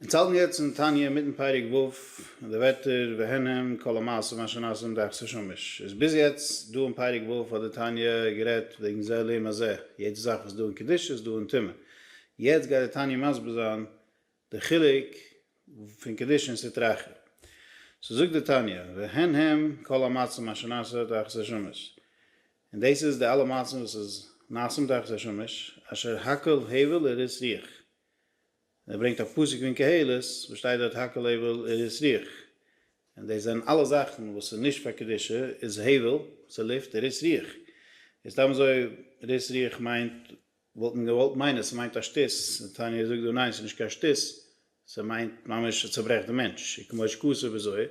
מיר צייטן יעצט אין תניא מיטן פרק ו' און די ווערטער והן הם כל המעשים אשר נעשו אין דאכסע שמש איז ביז יעצט דא אין פרק ו' האט די תניא גערעדט וועגן זה לעומת זה יעדע זאך וואס איז דא אין קדושה איז דא אין טומאה יעצט גייט די תניא מסביר זיין די חילוק פון קדושה און סטרא אחרא סאו זאגט די תניא והן הם כל המעשים אשר נעשו אין דאכסע שמש און דאס איז די אלע מעשים וואס איז נעשים דאכסע שמש אשר הכל הבל לראות ריח. ער ברענגט א פסוק פון קהלת וואס שטייט דארט הכל הבל איז ריח, און דאס זענען אלע זאכן וואס איז נישט פאר קדושה איז הבל, וואס איז לופט איז ריח, איז סתם אזוי ריח ריח מיינט וואלט מען געוואלט מיינען ס'מיינט א שטות, די תניא זאגט דא ניין ס'נישט קיין שטות, ס'מיינט ממש ס'צוברעכט די מענטש, און כמו שכתוב בזוהר,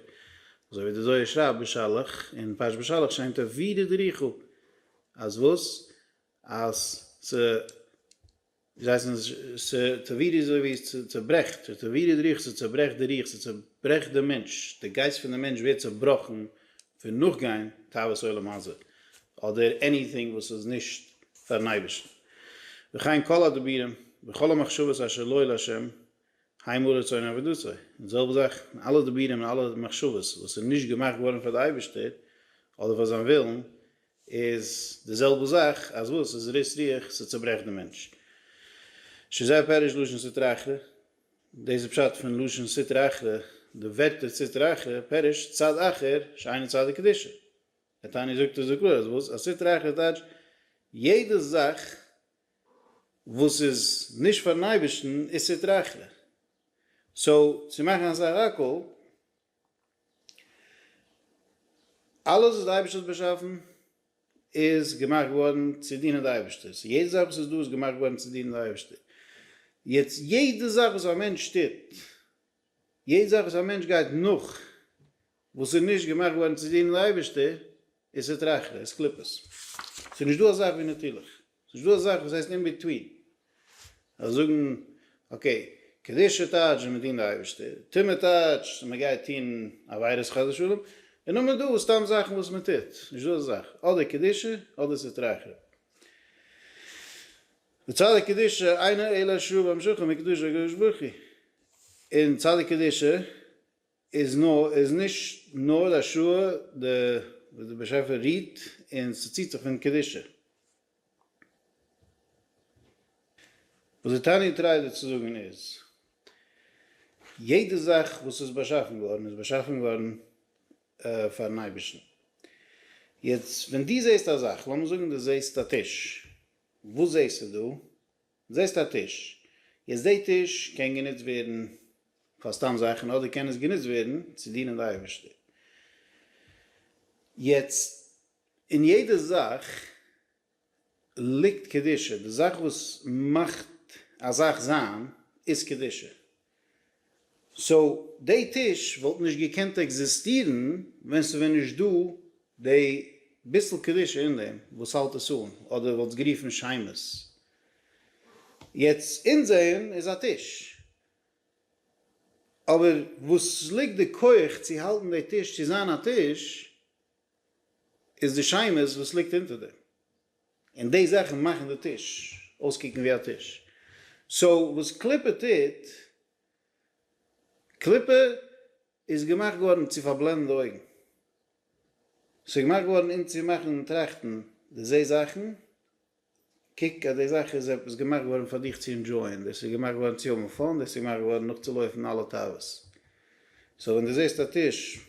אזוי ווי די זוהר שרייבט בשלח, אין פרשת בשלח שיינט ער וירא דריחא, אז וואס? אז ס'. זיי הייסן עס ש ת טברי' אזוי ווי עס צעברעכט ש ת טברי' די רוח, ס'צעברעכט די רוח, ס'צעברעכט דעם מענטש, די גייסט פון דעם מענטש ווערט צעבראכן פון נאכגיין תאוות עולם הזה, אדער עניטינג וואס איז נישט פארן אייבערשטן. וכן כל הדיבורים וכל המחשבות אשר לא לה' ה' הוא רצון עבודתו, און די זעלבע זאך אין אלע דיבורים און אלע מחשבות וואס איז נישט געמאכט געווארן פאר די אייבערשטער אדער פאר זיין ווילן, איז די זעלבע זאך אז וואס איז ריס רוח ס'צוברעכט די מענטש שזה פירוש לשון סטרא אחרא דאס איז פשט פון לשון סטרא אחרא די ווערטער סטרא אחרא פירוש צד אחר שאינו צד דקדושה די תניא זאגט עס זאגט לאז וואס אז סטרא אחרא טייטש יעדע זאך וואס איז נישט פארן אייבערשטן איז סטרא אחרא סאו צו מאכן א סך הכל אלעס וואס די אייבערשטער האט באשאפן איז געמאכט געווארן צו דינען די אייבערשטער, סאו יעדע זאך וואס איז דא איז געמאכט געווארן צו דינען די אייבערשטער, יעצט יעדע זאך וואס א מענטש טוט, יעדע זאך וואס א מענטש גייט נאך וואס איז נישט געמאכט געווארן צו דינען די אייבערשטער איז סטרא אחרא, איז קליפות, ס'איז נישט דא אזאך ווי נתילות. ס'נישט דא אזאך וואס הייסט אין ביטווין. זיי זאגן אקעי, קדושה טייטש ווען מ'דינט די אייבערשטער, טומאה טייטש ווען מ'גייט טון עבירות חס ושלום, און נאך מען דא סתם זאכן וואס מ'טוט. נישט דא אזא זאך. אדער קדושה אדער סטרא אחרא. די צדיק קדושה אינו אלא שרויה במשכו מקדושת הקדוש ברוך הוא. און צדיק קדושה איז נאר איז נישט נאר א שורה די וואס די באשעפער רוהט און ס'ציהט זיך פון קדושה. וואס די תניא טרייט דא צו זאגן איז, יעדע זאך וואס איז באשאפן געווארן איז באשאפן געווארן פארן אייבערשטן. יעצט ווען דו זעהסט א זאך, לאמיר זאגן דו זעהסט א טיש, וואס זעהסטו דא? זעסט א טיש. יעצט די טיש קען גענוצט ווערן פאר סתם זאכן אדער קען עס גענוצט ווערן צו דינען די אייבערשטער. יעצט אין יעדע זאך ליגט קדושה, די זאך וואס מאכט א זאך זיין איז קדושה, סאו די טיש וואלט נישט געקענט עקזיסטירן ווען ס'ווען נישט דא די ביסל קדושה אין דעם וואס האלט עס אן, אדער וואלטס גערופן שמות. יעצט אונזערן איז א טיש, אבער וואס ליגט די כח צו האלטן די טיש צו זיין א טיש איז די שמות וואס ליגט אונטער דעם. און די זאכן מאכן די טיש אויסקוקן ווי א טיש. סאו וואס קליפה טוט, קליפה איז געמאכט געווארן צו פארבלענדן די אויגן. ס'איז געמאכט געווארן אונז צו מאכן טראכטן, דו זעסט זאכן, קוק אז די זאך איז עפעס געמאכט געווארן פאר דיך צו ענדזשויען, דאס איז געמאכט געווארן צו האבן פאן, דאס איז געמאכט געווארן נאכצולויפן אלע תאוות. סאו ווען דו זעסט א טיש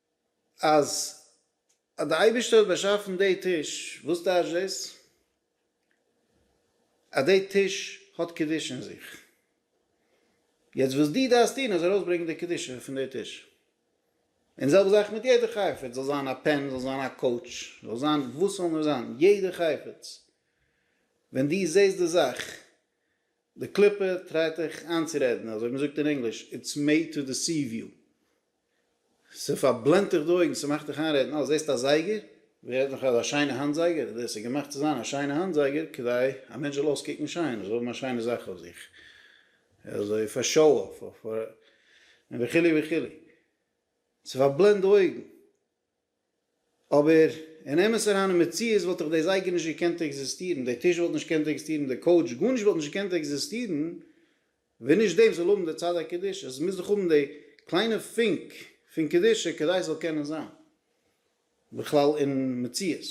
אז אז די אייבישטער האט באשאפן די טיש, וואס טייטש דאס? אז די טיש האט קדושה אין זיך. יעצט וואס דו דארפסט טון איז ארויסברענגען די קדושה פון די טיש. און זעלבע זאך מיט יעדע חפץ, זאל זיין א פען, זאל זיין א קאוטש, זאל זיין וואס זאל נאר זיין, יעדע חפץ, ווען דו זעסט די זאך, די קליפה טרייט דיך איינצורעדן, אזוי ווי מ'זאגט אין ענגליש, איטס מעיד טו דיסיוו יו, ס'פארבלענדט דיך די אויגן, ס'מאכט דיך איינרעדן, אה, זעסט א זייגער? ווער רעדט נאך אז א שיינע האנט זייגער, דאס איז געמאכט צו זיין א שיינע האנט זייגער כדי א מענטש זאל אויסקוקן שיין, ער זאל האבן א שיינע זאך אויף זיך, אזוי פאר שאו אףף, און וכו' וכו'. ס'פארבלענדט די אויגן. אבער אין אמת אריין אין מציאות וואלט דאך די זייגער נישט געקענט עקזיסטירן, די טיש וואלט נישט געקענט עקזיסטירן, די קאוטש, גארנישט וואלט נישט געקענט עקזיסטירן ווען נישט דעם זאל האבן די צד הקדושה, עס מוז דאך האבן די קליינע פונק פון קדושה כדי עס זאל קענען זיין בכלל אין מציאות.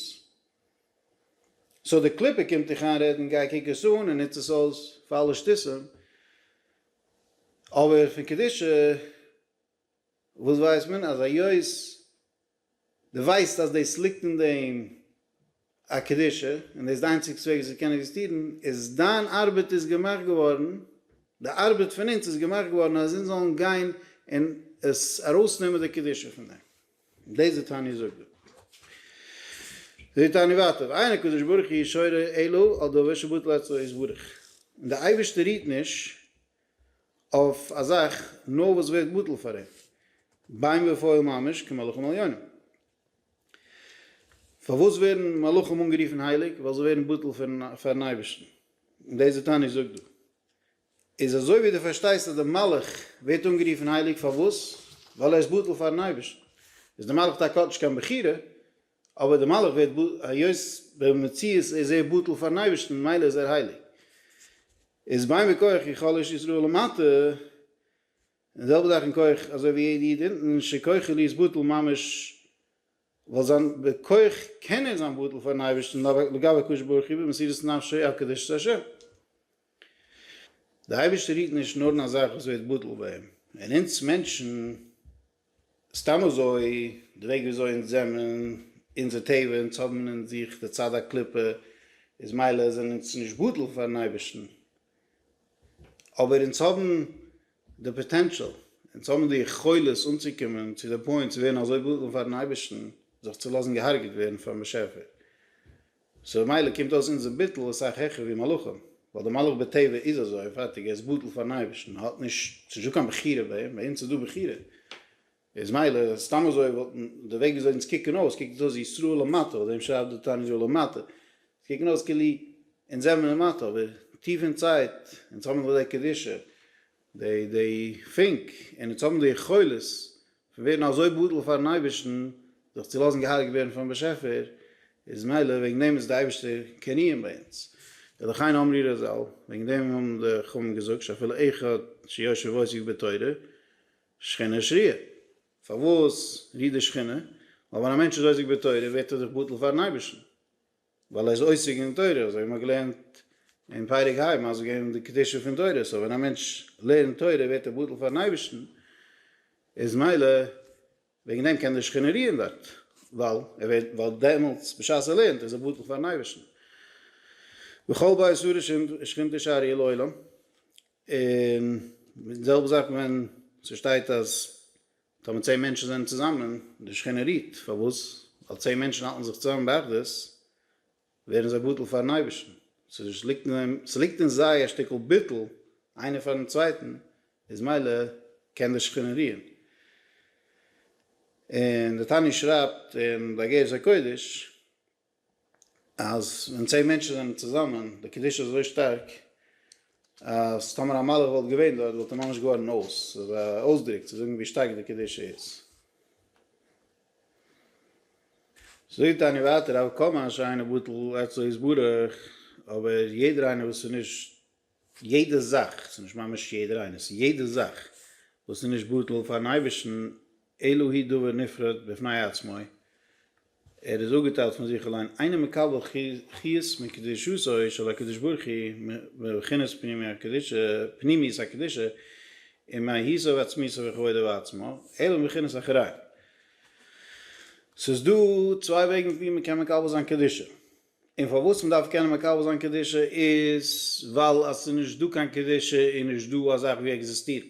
סאו די קליפה קומט דיך איינרעדן גיי קוק עס אן און נוץ עס אויס פאר אלע שטותים, אבער פון קדושה וואס ווייסט מען? אז היות דו ווייסט אז דאס ליגט אין דעם א קדושה, און דאס איז די איינציגסטע וועג וואס עס קען עקזיסטירן, איז דיין ארבעט איז געמאכט געווארן, די ארבעט פון אונז איז געמאכט געווארן אז אונז זאלן גיין און עס ארויסנעמען די קדושה פון דעם. דאס די תניא זאגט דא. זאגט די תניא ווייטער, ואין הקדוש ברוך הוא שורר אלא על דבר שבטל עצתו יתברך. און די אייבערשטער רוהט נישט אויף א זאך נאר וואס ווערט בטל פאר אים בים ופועל ממש כמלאכים עליונים. פארוואס ווערן מלאכים אנגערופן הייליג? ווייל זיי ווערן בטל פאר'ן אייבערשטן. און דאס וואס תניא זאגט דא איז אזוי ווי דו פארשטייסט אז דער מלאך ווערט אנגערופן הייליג פארוואס? ווייל ער איז בטל פאר'ן אייבערשטן. איז דער מלאך טאקע האט נישט קיין בחירה, אבער דער מלאך ווערט בטל, היות במציאות איז ער בטל פארן אייבערשטן ממילא איז ער הייליג. איז ביי מכח איך חלש ישראל למטה, און די זעלבע זאך אין כח אזוי ווי יעדע איד אונטן שכוחו להיות בטל ממש ווייל זיין בכח קען ער זיין בטל פארן אייבערשטן לגבי הקדוש ברוך הוא במסירות נפשו הקדוש צו השם. דער אייבערשטער היט נישט נאר אין א זאך וואס ווערט בטל ביי אים, און אונז מענטשן סתם אזוי, די וועג ווי אזוי אונז זעמען, אונזער טבע, אונז האבן אין זיך די צד הקליפה, איז מילא זענען אונז נישט בטל פארן אייבערשטן, אבער אונז האבן די פאטענשאל, אונז האבן די יכולת אנצוקומען צו די פוינט צו ווערן אזוי בטל פארן אייבערשטן, זיך צו לאזן געהארגעט ווערן פארן באשעפער. סאו במילא קומט אויס אונזער ביטול אסאך העכער ווי מלאכים, ווייל דער מלאך בטבע איז אזוי און פארטיג, ער איז בטל פארן אייבערשטן, ער האט נישט, ס'איז נישטא קיין בחירה ביי אים, ביי אונז איז דא בחירה, איז מילא סתם אזוי וואלט, די וועג וויאזוי אונז קוקן אויס, קוקט אונז אויס ישראל למטה, אויף דעם שרייבט דער תנא ישראל למטה, אונז קוקן אויס כאילו אונז זעמיר למטה, אבער טיף אינזייט, אונז האבן נאך די קדושה, די די פונק און אונז האבן די יכולת פון ווערן אזוי בטל פארן אייבערשטן, זיך צו לאזן געהארגעט ווערן פונעם באשעפער, איז מילא וועגן דעם איז די אייבערשטער קיין איום ביי אונז. ולכן אמרי רזל, וועגן דעם האבן די חכמים געזאגט שאפילו אחד שיושב ועוסק בתורה, שכינה שריה. פארוואס רוהט די שכינה? ווייל ווען א מענטש איז עוסק בתורה ווערט ער דאך בטל פארן אייבערשטן. ווייל ער איז עוסק אין תורה, אזוי ווי מ'האט געלערנט אין פרק ה' מסביר געווען די קדושה פון תורה, סאו ווען א מענטש לערנט תורה ווערט ער בטל פארן אייבערשטן, איז מילא וועגן דעם קען די שכינה רוען דארט, ווייל ער ווערט, ווייל דעמאלטס בשעת ער לערנט איז ער בטל פארן אייבערשטן. וכל בית ה' שכינתו תשאר יהיה לעולם, און די זעלבע זאך ווען ס'שטייט אז. טאמער צען מענטשן זענען צוזאמען, די שכינה רוהט, פארוואס? ווייל צען מענטשן האלטן זיך צוזאמען באחדות, ווערן זיי בטל פארן אייבערשטן, ס'איז ליגט אין זיי, ס'ליגט אין זיי א שטיקל ביטול איינער פארן צווייטן, איז מילא קען די שכינה רוען. און די תניא שרייבט אין באגרת הקודש. אז ווען צען מענטשן זענען צוזאמען, די קדושה איז אזוי שטארק, אז טאמער א מלאך וואלט געווען דארט וואלט ער ממש געווארן אויס, ס'איז א אויסדרוק צו זאגן ווי שטארק די קדושה איז. זאגט טאניא ווייטער, הוה קאמאש איינער בטל עצתו יתברך, אבער יעדער איינער וואס איז נישט. יעדע זאך, ס'איז נישט ממש יעדער איינס, יעדע זאך וואס איז נישט בטל פאר'ן אייבערשטן, אלא היא דבר נפרד בפני עצמו, ער איז אפגעטיילט פון זיך אליין, אינו מקבל חוץ מקדושתו של הקדוש ברוך הוא מבחינת פנימיות הקדושה ומהותו ועצמיותו וכבודו בעצמו, אלא מבחינת אחראי. ס'איז דא צוויי וועגן ווי מ'קען מקבל זיין קדושה. און פארוואס מען דארף קענען מקבל זיין קדושה איז ווייל אז ס'איז נישט דא קיין קדושה איז נישט דא אזאך ווי עקזיסטירן.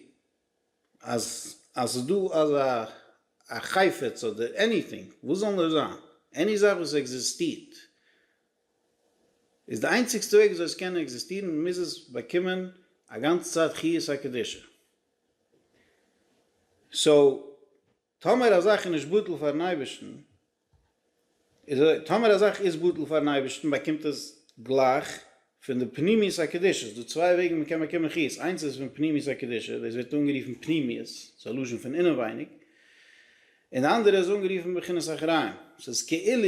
אז אז ס'איז דא אזא א חפץ אדער עניטינג, וואס זאל נאר זיין, עני זאך וואס עקזיסטירט, איז די איינציגסטע וועג וויאזוי עס קען עקזיסטירן מוז עס באקומען א גאנצע צייט חיות הקדושה. סאו טאמער א זאך איז נישט בטל פארן אייבערשטן, אזוי טאמער א זאך איז בטל פארן אייבערשטן באקומט עס גלייך פון די פנימיות הקדושה, ס'דא צוויי וועגן מען קען באקומען חיות, איינס איז פון פנימיות הקדושה, דאס ווערט אנגערופן פנימיות, ס'איז א לשון פון אינעווייניג, און די אנדערע איז אנגערופן בחינת אחראים, ס'איז כאילו.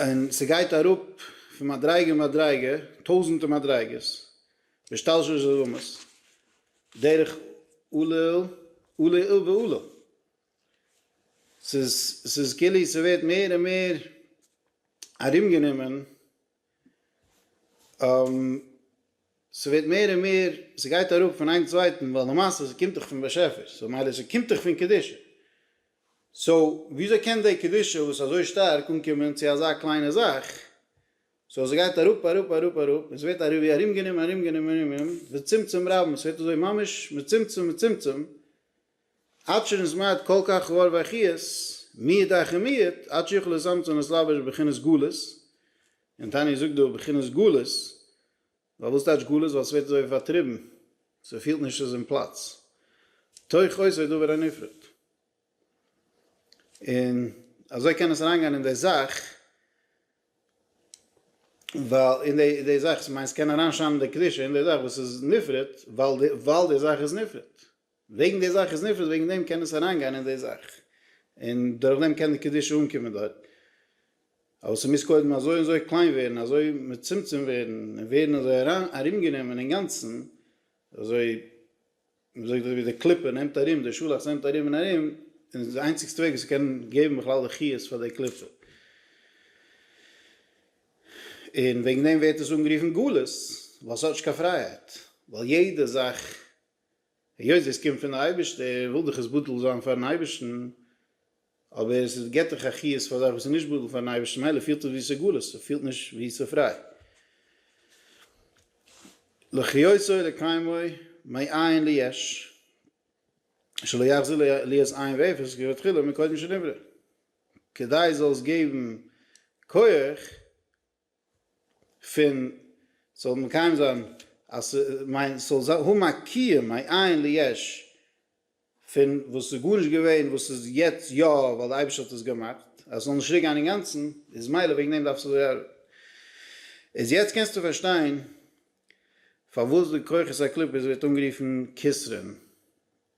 און ס'גייט אראפ פון מדריגה מדריגה, טויזענטע מדריגות, והשתלשלות עולמות, דרך עולל עולל ועולל, ס'איז ס'איז כאילו ס'ווערט מער און מער ארומגענומען ס'ווערט מער און מער, ס'גייט אראפ פון איין צווייטן, ווייל למעשה ס'קומט דאך פון באשעפער, סאו מילא ס'קומט דאך פון קדושה, סאו וויאזוי קען די קדושה וואס איז אזוי שטארק אנקומען צו אזא קליינע זאך, סאו ס'גייט אראפ אראפ אראפ אראפ, און ס'ווערט ווי ארומגענומען ארומגענומען ארומגענומען, וצמצום רבם, ס'ווערט אזוי ממש מצומצם מצומצם, עד שנזמד כל כך רעל וחיות מיעט דאכן מיעט עד שיוכל איז אמצע און עס לבש בבחינת גלות, און תניא זאגט דא בבחינת גלות, ווייל וואס טייטש גלות ווייל ס'ווערט אזוי ווי פארטריבן, ס'פילט נישט ס'איז אין פלאץ, תוך אויס ווערט דבר הנפרד, און אזוי קען עס אריינגיין אין די זאך, ווייל אין די די זאך, ס'מיינט ס'קען אריינשיינען די קדושה אין די זאך וואס איז נפרד, ווייל די ווייל די זאך איז נפרד. וועגן די זאך איז נפרד וועגן דעם קען עס אריין גיין אין די זאך און דורך דעם קען די קדושה אנקומען דארט אבער ס'מוז קודם אזוי און אזוי קליין ווערן אזוי מצומצם ווערן און ווערן אזוי ארומגענומען אינגאנצן אזוי מ'זאגט אזוי ווי די קליפה נעמט ארום די שאלאכטס נעמט ארום און ארום און די איינציגסטע וועג ווי ס'קען געבן בכלל די חיות פאר די קליפה און וועגן דעם ווערט עס אנגערופן גלות ווייל ס'האט נישט קיין פרייהייט ווייל יעדע זאך היות עס קומט פון די אייבערשטער וויל דאך עס בטל זיין פארן אייבערשטן, אבער עס געבט דאך א חיות פאר א זאך וואס איז נישט בטל פארן אייבערשטן מילא פילט עס ווי סגלות, עס פילט נישט ווי ס'פריי. לחיותו לקיימו מעין ליש שלא יחזיר להיות עין ואפס כבתחילה מקודם שנברא, כדי זאל עס געבן כח, פון ס'זאל מקיים זיין אז ס מיין ס'זאל האבן א קיום א עיין ליש פון וואס איז גארנישט געווען וואס איז יעצט יא ווייל די אייבערשטער האט עס געמאכט אז ס'זאל נישט צוריקגיין אינגאנצן איז מילא וועגן דעם דארף ס'זאל ארבעטן איז יעצט קענסטו פארשטיין פארוואס די כוחות הקליפות ווערט אנגערופן כסרין.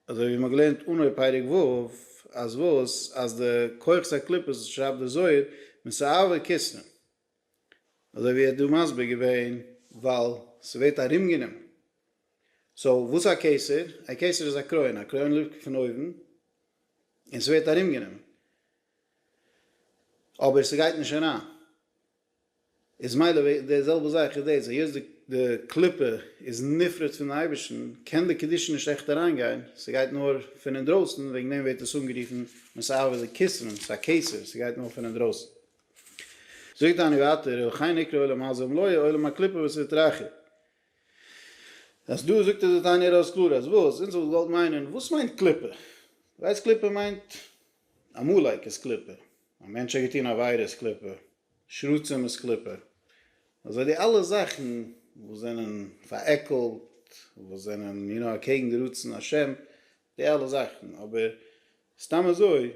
אזוי ווי מען האט געלערנט אנהויב פרק ו', אז וואס? אז די כוחות הקליפות, שרייבט דער זוהר, מסעוור כיסנו. אזוי ווי ער האט דא מסביר געווען, ווייל ס'ווערט ארומגענומען. סאו וואס איז א קיסר? א קיסר איז א קרוין, א קרוין לופט פון אויבן, און ס'ווערט ארומגענומען. אבער ס'גייט נישט אריין. איז מילא וועגן די זעלבע זאך איז דאס היות די די קליפה איז נפרד פון אייבערשטן קען די קדושה נישט עכט אריינגיין ס'גייט נאר פון אינדרויסן וועגן דעם ווערט עס אנגערופן מסעוה די כסרין ס'איז א קיסר ס'גייט נאר פון אינדרויסן זאגט דני ווייטער ולכן נקרא עולם הזה ומלואה עולם הקליפה וואס איז די טרחה אז דא זאגט ער די תניא ארויס קלאר אז וואס אונז וואלט געוואלט מיינען וואס מיינט קליפה ווייסט קליפה מיינט עמלק איז קליפה. א מענטש האט געטון עבירה איז קליפה, שרצים איז קליפה, אזוי די אלע זאכן וואס זענען פארעקלט, וואס זענען יו נאו אקעגן די רצון השם, די אלע זאכן, אבער סתם אזוי,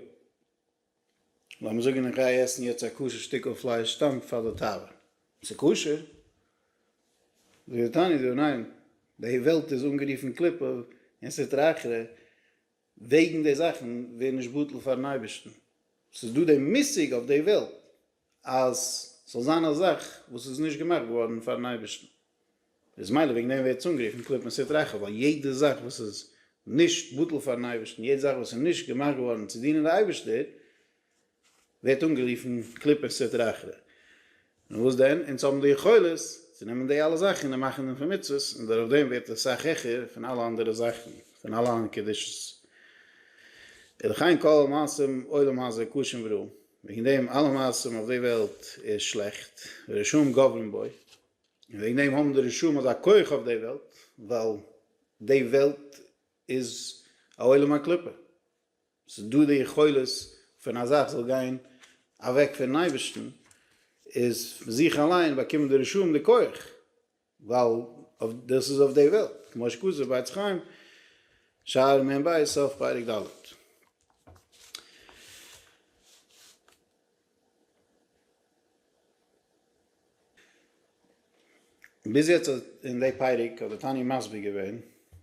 לאמיר זאגן איך גיי עסן יעצט א כשר שטיקל פלייש סתם פאר די תאווה, ס'איז כשר? זאגט די תניא דא ניין, די וועלט איז אנגערופן קליפה און סטרא אחרא, וועגן די זאכן ווער נישט בטל פארן אייבערשטן, ס'איז דא די מושג אויף די וועלט אז ס'זאל זיין א זאך וואס איז נישט געמאכט געווארן פארן אייבערשטן, איז מילא וועגן דעם ווערט עס אנגערופן קליפת סטרא אחרא, ווייל יעדע זאך וואס איז נישט בטל פארן אייבערשטן, יעדע זאך וואס איז נישט געמאכט געווארן צו דינען די אייבערשטער, ווערט אנגערופן קליפת סטרא אחרא. און וואס דען? אונז האבן די יכולת צו נעמען די אלע זאכן און מאכן דעם פון מצוות, און דורך דעם ווערט עס סאך העכער פון אלע אנדערע זאכן, פון אלע אנ קדושות. ולכן כל מעשים עולם הזה קשים ורעים, וועגן דעם אלע מעשים אויף די וועלט איז שלעכט, ורשעים גוברים בו, און וועגן דעם האבן די רשעים אזא כח אויף די וועלט, ווייל די וועלט איז א עולם הקליפה. ס'איז דא די יכולת פון א זאך זאל גיין אוועק פונעם אייבערשטן, איז פון זיך אליין באקומען די רשעים די כח, ווייל דאס איז אויף די וועלט, כמו שכתוב ביי עץ חיים, שער מ ב, סוף פרק ד'. ביז יעצט האט אין די פרק האט די תניא מסביר געווען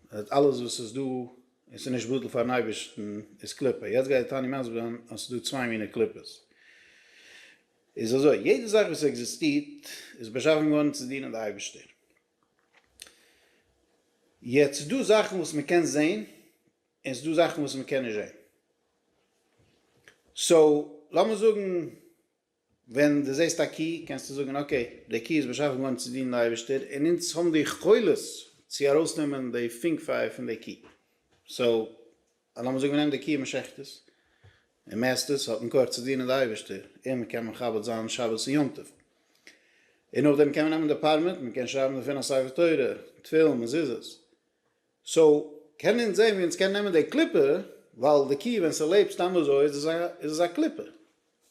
אז אלעס וואס איז דא און ס'איז נישט בטל פארן אייבערשטן איז קליפה, יעצט גייט די תניא מסביר זיין אז ס'איז דא צוויי מיני קליפות, איז אזוי יעדע זאך וואס עקזיסטירט איז באשאפן געווארן צו דינען די אייבערשטער, יעצט ס'איז דא זאכן וואס מ'קען זען. און ס'דא זאכן וואס מ'קען נישט זעהן. סאו, לאמיר זאגן ווען דו זעהסט א קי קענסטו זאגן אקעי, די קי איז באשאפן געווארן צו דינען די אייבערשטער און אונז האבן די יכולת צו ארויסנעמען די פונקפיי פון די קי. סאו, לאמיר זאגן מ'נעמט די קי און מ'שחט עס, און מ'עסט עס, האט מקור צו דינען די אייבערשטער און מ'קען מכבד זיין שבת און יום טוב. און נאכדעם קען מען נעמען די פערמיט, מ'קען שרייבן דערפון א ספר תורה, תפילין, מזוזות. סאו קען אונז זעהן ווי אונז קען נעמען די קליפה, ווייל די קו ווען ס'לעבט סתם אזוי איז עס א איז עס א קליפה,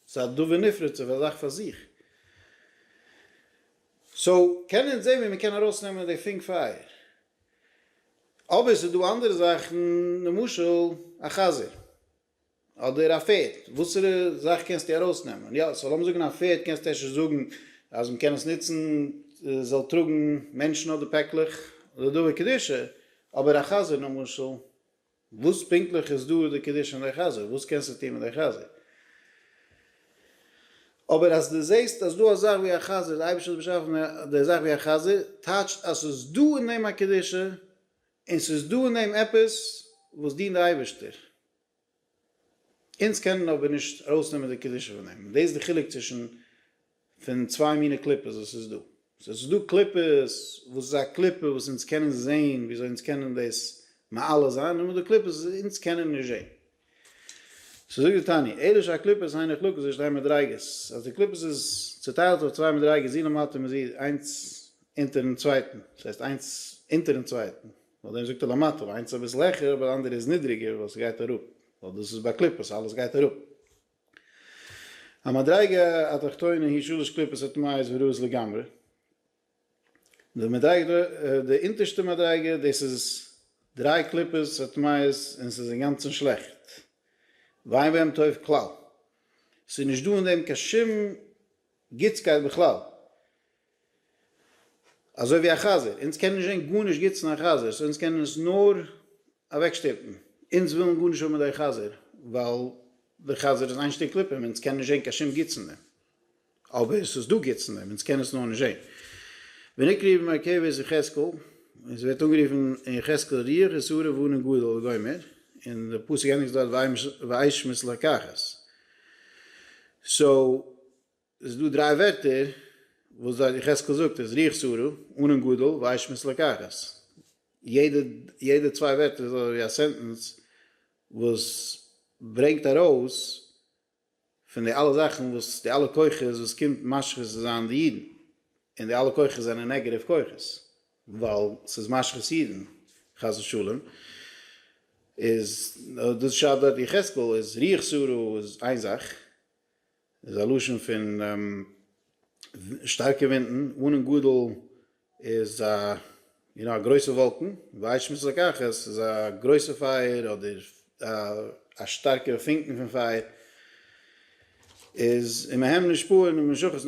ס'איז א דבר נפרד ס'איז א זאך פאר זיך, סאו קען אונז זעהן ווי מען קען ארויס נעמען די פונק פייער, אבער ס'איז דא אנדערע זאכן למשל א חזיר. אדער א פערד, וואסערע זאך קענסטו ארויס נעמען? יא, סאו לאמיר זאגן א פערד קענסטו אפשר זאגן אז מען קען עס נוצן ס'זאל טראגן מענטשן אדער פעקלעך לדבר קדושה, אבער א חזיר למשל, וואס פונקטליך איז דא די קדושה אין די חזיר? וואס קענסטו טון מיט די חזיר? אבער אז דו זעסט אז דא א זאך ווי א חזיר, די אייבערשטער האט באשאפן די זאך ווי א חזיר, טייטשט אז ס'איז דא אין דעם א קדושה, און ס'איז דא אין דעם עפעס וואס דינט די אייבערשטער, אונז קענען אבער נישט ארויסנעמען די קדושה פון דעם, און דאס איז די חילוק צווישן פון צוויי מינע קליפות וואס ס'איז דא, ס'איז דא קליפות וואס איז א קליפה וואס אונז קענען זען וויאזוי אונז קענען דאס מעלה זיין, און דא קליפות וואס אונז קענען נישט זען. ס'איז זאגט די תניא, עירוב של הקליפות היינע חלוקות איז שתי מדריגות, אז די קליפות איז צוטיילט אויף צוויי מדריגות זי למטה און זי איינס אונטערן צווייטן, דאס הייסט איינס אונטערן צווייטן, נאך דעם זאגט ער למטה, ווייל איינס איז אביסל העכער אבער די אנדערע איז נידריגער ווייל ס'גייט אראפ, ווייל דאס איז ביי קליפות אלעס גייט אראפ. המדריגה התחתונה היא שלש קליפות הטמאות ורעות לגמרי. די מדריגה, די אונטערשטע מדריגה, דאס איז דריי קליפות הטמאות און ס'איז אינגאנצן שלעכט, ואין בהם טוב כלל, ס'איז נישט דא אין דעם קיין שום גוטסקייט בכלל, אזוי ווי א חזיר, אונז קענען נישט זען גארנישט גוטס אין א חזיר, סאו אונז קענען עס נאר אוועקשטופן, אונז ווילן גארנישט האבן מיט די חזיר, ווייל די חזיר איז איין שטיק קליפה און אונז קענען נישט זען קיין שום גוטס אין דעם. אבער ס'איז דא גוטס אין דעם, אונז קענען עס נאר נישט זען. ונקרא במרכבת יחזקאל, און ס'ווערט אנגערופן אין יחזקאל ריח איז הרה ואנן גדול לגומר, און די פסוק ענדיגט דארט ואישמץ לקחת. סאו ס'איז דא דריי ווערטער וואס דארט יחזקאל זאגט איז ריח איז הרה ואנן גדול ואישמץ לקחת. יעדע יעדע צוויי ווערטער איז אזויווי א סענטענס וואס ברענגט ארויס פון די אלע זאכן וואס די אלע כוחות וואס קומט משחית צו זיין די אידן, און די אלע כוחות זענען נעגעטיוו כוחות, ווייל ס'איז משחית אידן, חס ושלום, איז דאס שרייבט דארט יחזקאל איז ריח שררה איז איין זאך, איז א לשון פון שטארקע ווינטן, אן און גדול איז א יו נאו א גרויסע וואלקן, וישט מיט זקח עס איז א גרויסע פייער אדער א שטארקע פונקן פון פייער איז אין מהם נשפעו נ משכת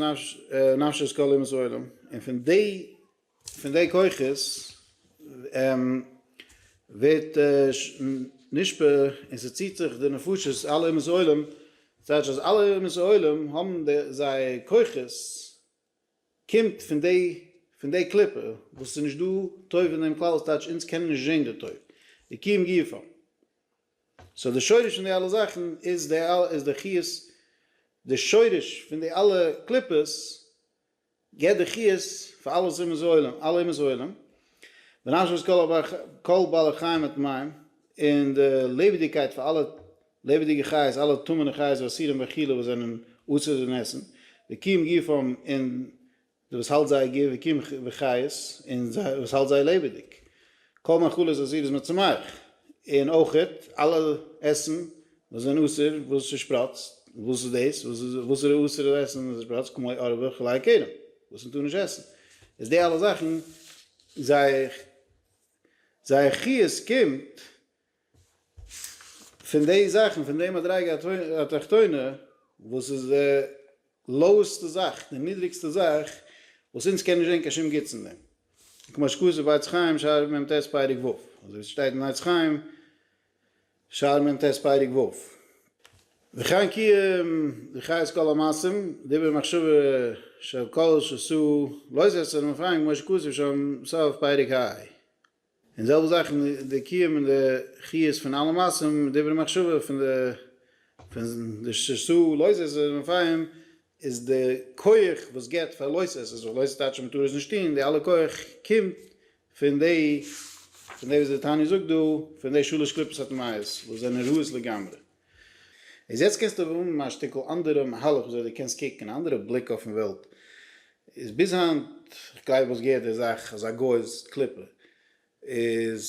נפשת כל אומות העולם און פון די פון די כוחות ווערט נשפע און ס'ציט זיך די נפשות אלע אומות העולם דאס הייסט אז אלע אומות העולם האבן זיי כוחות קומט פון די פון די קליפה וואס ס'איז נישט דא טוב אין דעם כלל וואס טייטש אונז קענען נישט זען די טוב די קיום גופא סאו די שורש פון די אלע זאכן איז די איז די חיות די שורש פון די אלע קליפות געבט די חיות פאר אלע אומות העולם אלע אומות העולם ונשמות כל בעלי חיים הטמאים און די לעבעדיגקייט פאר אלע לעבעדיגע חיות, אלע טמא'נע חיות ואסירים וכו' וואס זענען אסור אין עסן, וקים גופם און די וואס האלט זייער גוף, וקים וחיות און זיי וואס האלט זיי לעבעדיג, כל מאכלות אסירות מצומח, און אויכעט אלע עסן וואס זענען אסור וואס ס'שפראצט, וואס איז דאס? וואס איז אסור דאס עסן וואס ס'שפראצט? כמו עור וכלי כרם, וואס מ'טאר נישט עסן, איז די אלע זאכן זייער זייער חיות קומט. פון די זאכן פון די מדריגה התחתונה וואס איז די לאועסטע זאך, די נידריגסטע זאך, וואס אונז קען נישט זען קיין שום גוטס אין דעם. כמו שכתוב בעץ חיים שער מ ט פרק ו', אזוי ווי ס'שטייט אין עץ חיים שער מ ט פרק ו', וכאן קיום וחיות כל המעשים דברי מחשבה של כל שעשו לא יסר מפעם כמו שכתוב שם סוף פרק ה. און זעלבע זאך אין די קיום און די חיות פון אלע מעשים און דברי מחשבה פון די פון די ש ס לויז עסער און רפאים איז די כח וואס געבט פאר לויז עסערס וואס לויז עסערס טייטש אז מען טאר עס נישט טון, די אלע כח קומט פון די פון די וואס די תניא זאגט דא פון די שלש קליפות הטמאות וואס זענען רעות לגמרי. איז יעצט קענסטו האבן א שטיקל אנדערע מהלך וויאזוי דו קענסט קוקן, אן אנדערע בליק אויפן וועלט. איז ביז היינט, כ'גלייב וואס געהערט די זאך אז א גוי איז קליפה, איז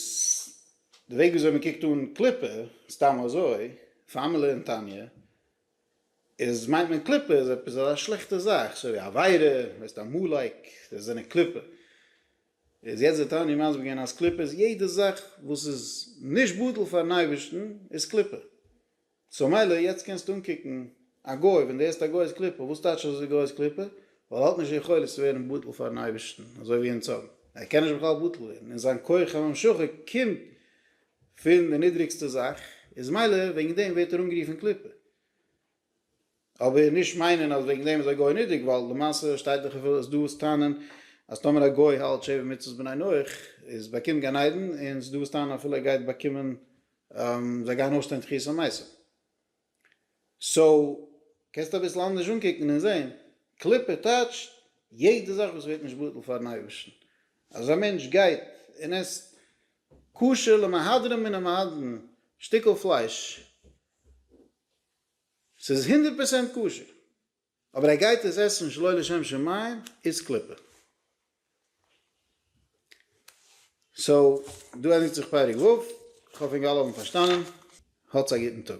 די וועג וויאזוי מען קוקט אן קליפה, סתם אזוי, פארמעלע און תניא, איז מיינט מען קליפה איז עפעס א שלעכטע זאך, סוי ווי עבירה, ווערסט עמלק, זיי זענען קליפה. איז יעצט די תניא מסביר געווען אז קליפה איז יעדע זאך וואס איז נישט בטל פארן אייבערשטן איז קליפה, סאו מילא יעצט קענסטו אנקוקן א גוי ווען די הערסט א גוי איז קליפה, וואס טייטש אז די גוי איז קליפה? ווייל ער האט נישט יכולת צו ווערן בטל פארן אייבערשטן אזוי ווי אונז האבן, ער קען נישט בכלל בטל ווערן, און זיין כח הממשכה קומט פון די נידריגסטע זאך, איז מילא וועגן דעם ווערט ער אנגערופן קליפה. אבער נישט מיינען אז וועגן דעם איז א גוי נודק ווייל למעשה שטייט דאך אפילו אז דא וואס טענה'ן אז טאמער א גוי האלט שבע מצוות בני נח איז באקומט גן עדן און ס'דא וואס טענה'ן אפילו ער גייט באקומען זיי גייען אויסטון תחיית המתים סאו קענסט אביסל אנדערש אנקוקן און זעהן קליפה טייטשט יעדע זאך וואס ווערט נישט בטל פארן אייבערשטן אז א מענטש גייט און עסט כשר למהדרין מן המהדרין שטיקל פלייש. ס'איז הונדערט פראצענט כשר, אבער ער גייט עס עסן שלא לשם שמים איז קליפה. סאו, דא ענדיגט זיך פרק ו', כ'האף אונגאלע האבן פארשטאנען. האטס א גוטן טאג.